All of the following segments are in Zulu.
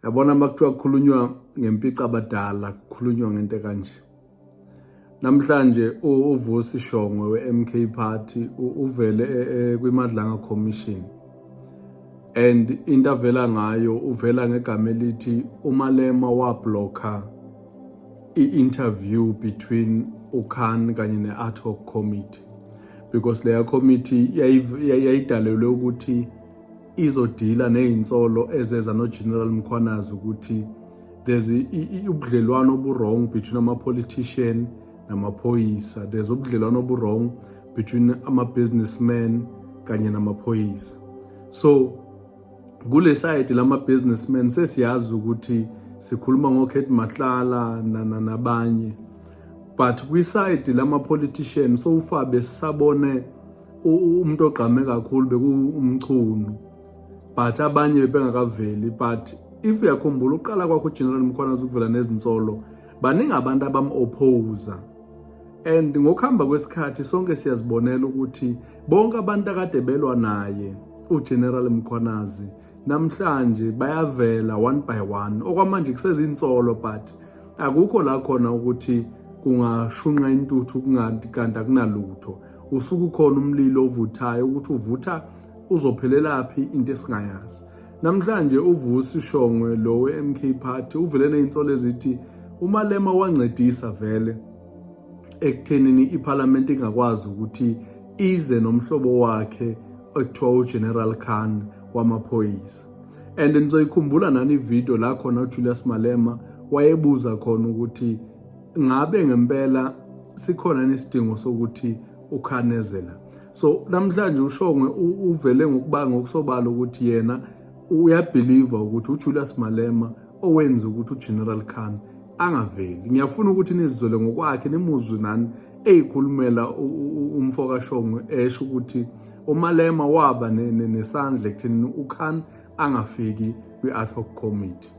yabona uma kuthiwa kukhulunywa ngempica abadala kukhulunywa ngento kanje namhlanje uvusi shongwe we-mk party uvele e, e, kwimadlanga commission and into avela ngayo uvela ngegama elithi umalema wablokha i-interview between ukhan kanye ne-ad hoc committee because leya committee yayidalelwe ukuthi izodila nezinsolo ezeza noGeneral Mkhwanazi ukuthi there's ubudlelwano obu-wrong between ama-politician namaphoyisa there's ubudlelwano obu-wrong between ama-businessman kanye namaphoyisa so kule side lama-businessman sesiyazi ukuthi sikhuluma ngokhet matlala nabanye but kwisayidi lama-politician sowufabe sisabone umuntu ogqame kakhulu bekuwumchunu but abanye bebengakaveli but if uyakhumbula uqala kwakho ugeneral mkhwanazi ukuvela nezinsolo baningi abantu abam-opposa and ngokuhamba kwesikhathi sonke siyazibonela ukuthi bonke abantu akade belwa naye ugeneral mkhwanazi namhlanje bayavela one by one okwamanje kusezinsolo but akukho la khona ukuthi kungashunqa intuthu kungathi kanti akunalutho usuke ukhona umlilo ovuthayo ukuthi uvutha uzophelelaphi into esingayazi namhlanje uvusi shongwe lo we-mk party uvele ney'nsolo ezithi umalema wancedisa vele ekuthenini iphalamenti ingakwazi ukuthi ize nomhlobo wakhe ekuthiwa ugeneral khan wamaphoyisa and nizoyikhumbula nani ividiyo la khona ujulius malema wayebuza khona ukuthi ngabe ngempela sikhona nesidingo sokuthi ukhanezela so namhlanje ushongwe uvele ngokubanga ngokusobala ukuthi yena uyabhiliva ukuthi uJulius Malema owenza ukuthi uGeneral Khan angaveli ngiyafuna ukuthi nizizole ngokwakhe nimuzwe nani eyikhulumela umfo kaShongwe esho ukuthi uMalema waba nesandla ekutheni uKhan angafiki kwi-ad hoc committee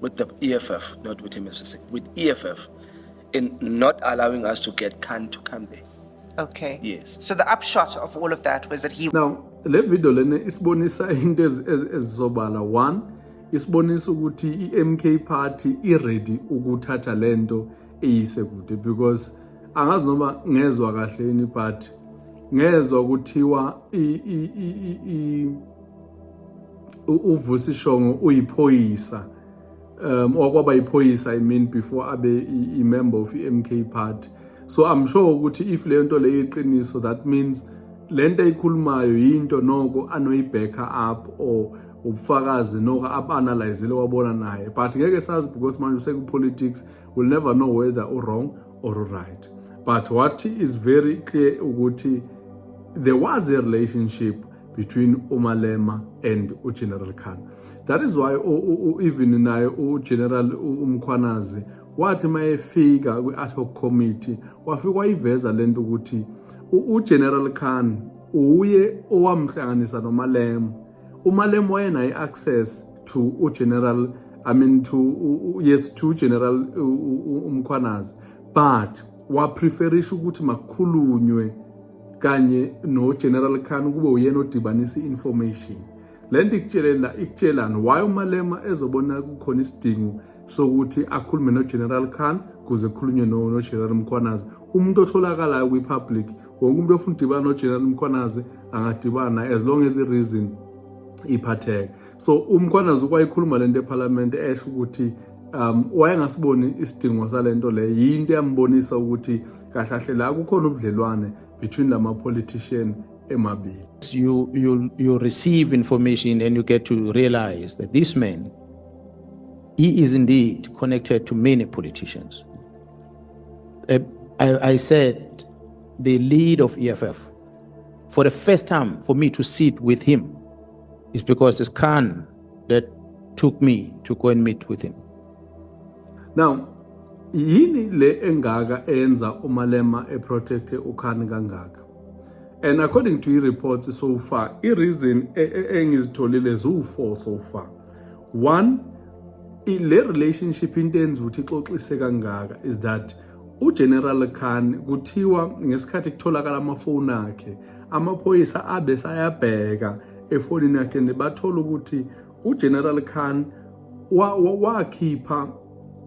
with the EFF, not with MFCC, with EFF, in not allowing us to get Khan to come there. Okay. Yes. So the upshot of all of that was that he. Now, le video lena isibonisa into ezizobala one isibonisa ukuthi i-MK party i-ready ukuthatha le nto eyise kude because angazi noma ngezwa kahle yini but ngezwa kuthiwa uvusi shongo uyiphoyisa um okwaba iphoyisa i mean before abe i-member of i-mk party so i'm sure ukuthi if leyo nto leyo iqiniso that means le nto eyikhulumayo yinto noko anoyibhekha up or ubufakazi noko ab-analyzile wabona naye but ngeke sazi because manje usekupolitics will never know whether u-wrong or u-right but what is very clear ukuthi there was a relationship between umalema and ugeneral khan that is why even naye ugeneral umkhwanazi wathi uma efika kwi-ad hoc committee wafika wayiveza le nto ukuthi ugeneral khan uye owamhlanganisa nomalema umalema wayenayo i-access to ugeneral i mean to u, yes to general umkhwanazi but wapreferisha ukuthi makukhulunywe kanye noGeneral Khan kube uyena odibanisa i-information le nto ikutshelela ikutshelani why umalema ezobona kukhona isidingo sokuthi akhulume noGeneral Khan kuze kukhulunywe noGeneral Mkhwanazi umuntu otholakalayo kwi-public wonke umuntu ofuna udibana noGeneral Mkhwanazi angadibana as long as i-reason iphatheka so umkhwanazi ukwayikhuluma lento ephalamende esho ukuthi um wayengasiboni isidingo salento le yinto yambonisa ukuthi kahlahle la kukhona ubudlelwane between lama politician emabili you you you receive information and you get to realize that this man he is indeed connected to many politicians uh, I, I said the lead of EFF for the first time for me to sit with him It's because it's Khan that took me to go and meet with him. Now, yini le engaka enza umalema eprotecte ukhani kangaka and according to i-reports so far i-reason e, e, engizitholile ziwu-four so far one le relationship into enza ukuthi ixoxise kangaka is that UGeneral Khan kuthiwa ngesikhathi kutholakala amafoni akhe amaphoyisa abe sayabheka efonini yakhe nebathola ukuthi uGeneral Khan wakhipha wa, wa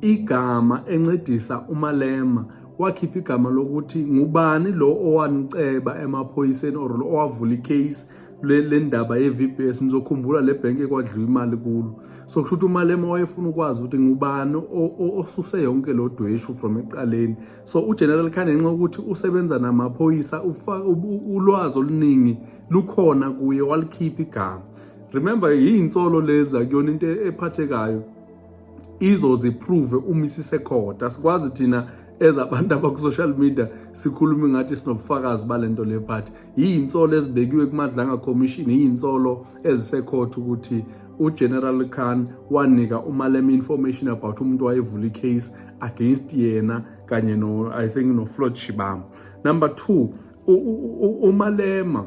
igama encedisa uMalema wakhipha igama lokuthi ngubani lo owaniceba emaphoyiseni or lo owavula icase le ndaba ye-VBS nizokhumbula le bhenki ekwadliwa imali kulo so kusho ukuthi umalema wayefuna ukwazi ukuthi ngubani osuse yonke lo dweshu from ekuqaleni so ugeneral khane ngenxa ukuthi usebenza namaphoyisa ulwazi oluningi lukhona kuye walikhipha igama remember yiyinsolo lezi akuyona into ephathekayo izoziprove uma isisekhotha sikwazi thina ezabantu abaku-social media sikhulume ngathi sinobufakazi balento le phathi yiyinsolo ezibekiwe kumadlanga commission yiyinsolo ezisekhotha ukuthi ugeneral khan wanika umalema information about umuntu wayevula icase against yena kanye no i think noflod shibam number two umalema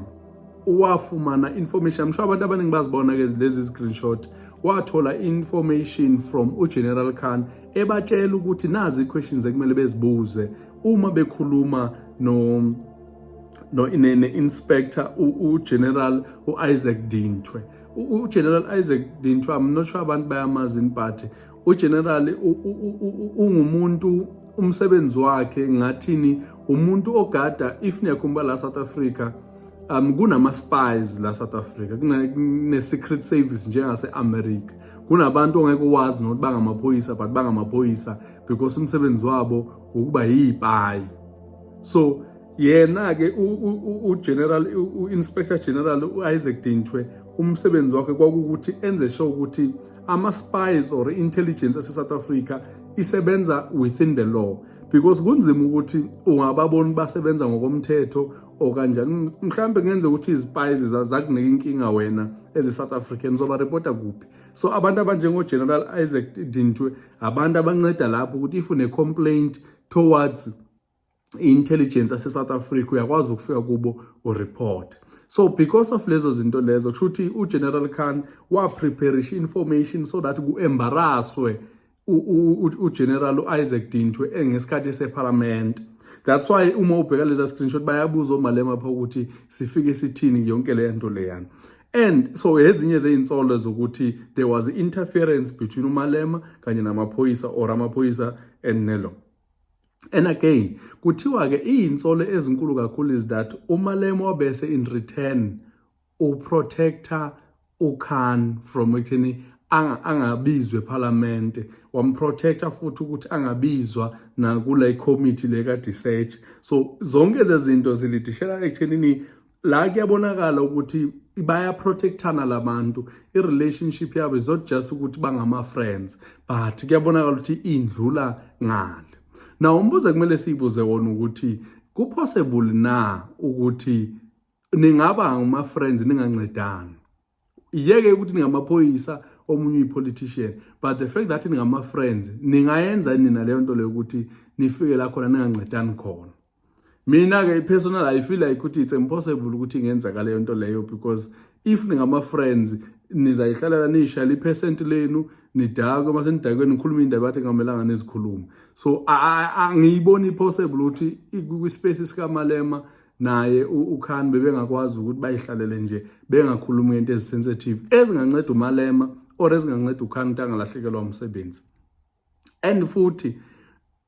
wafumana information msho abantu abaningi bazibona ke lezi screenshot wathola information from ugeneral khan ebatshela ukuthi nazi i-questions ekumele bezibuze uma bekhuluma no no ne-inspector ugeneral u-isaac dintwe ugeneral isaac dintwe i'm not sure abantu bayamazi in party ugeneral ungumuntu umsebenzi wakhe ngathini umuntu ogada if niyakhumbula la south africa um kunama-spies la south africa kune-secret service njengase-america kunabantu ongeke uwazi nokuthi bangamaphoyisa but bangamaphoyisa because umsebenzi wabo ukuba yiyipayi so yena ke uGeneral uInspector General uIsaac Dintwe umsebenzi wakhe kwakukuthi enze sure ukuthi ama spies or intelligence ase South Africa isebenza within the law because kunzima ukuthi ungababoni basebenza ngokomthetho okanjani mhlambe kungenzeka ukuthi izipayizi zakunika inkinga wena as a South African uzoba reporta kuphi so abantu abanjengo General Isaac Dintwe abantu abanceda lapho ukuthi if une complaint towards i-intelligence yase-south africa uyakwazi ukufika kubo ureport so because of lezo zinto lezo kusho ukuthi ugeneral khan wapreparisha i-information so that ku-embaraswe ugeneral u-isaac dintwe engesikhathi esephalamende that's why uma ubheka leza screenshot bayabuza omalema pha ukuthi sifike sithini yonke le nto leyana and so ezinye zezinsolo zokuthi there was interference between umalema kanye namaphoyisa or amaphoyisa and nelo And again kuthiwa-ke iyinsolo ezinkulu kakhulu is that umalemo wabese in return uprotector ukhan from ekutheni angabizwe ephalamende wamprotector futhi ukuthi angabizwa nakule committee le ka-disearch so zonke ezezinto zilidishela ekuthenini la kuyabonakala ukuthi bayaprotectana labantu i-relationship yabo is not just ukuthi bangama-friends but kuyabonakala ukuthi indlula ngale naw umbuzo kumele siyibuze wona ukuthi kupossible na ukuthi ningaba ngama-friends ningancedani iyeke ukuthi ningamaphoyisa omunye uyi-politician but the fact that ningama-friends ningayenza nina leyo nto leyo ukuthi nifike la khona ningancedani khona mina-ke i-personal i feel like ukuthi it's impossible ukuthi ingenzeka leyo nto leyo because if ningama-friends nizayihlalela niyishayela iphesenti lenu nidakwe uma senidakwe nikhuluma iy'ndaba yathi kungamelanga nizikhulume so angiyiboni i-possible ukuthi kwispace sikamalema naye uKhan bebengakwazi ukuthi bayihlalele nje bengakhulumi ngento ezisensitive ezinganceda uMalema or ezinganceda uKhan ukuthi angalahlekelwa umsebenzi and futhi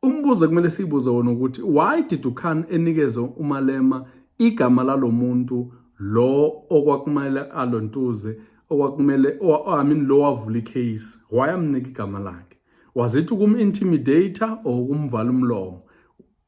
umbuzo kumele siyibuze wona ukuthi why did uKhan enikeze uMalema igama lalomuntu lo okwakumele alontuze okwakumele I mean lo wavula icase why amnika igama lakhe was it ukum intimidator or ukumvala umlomo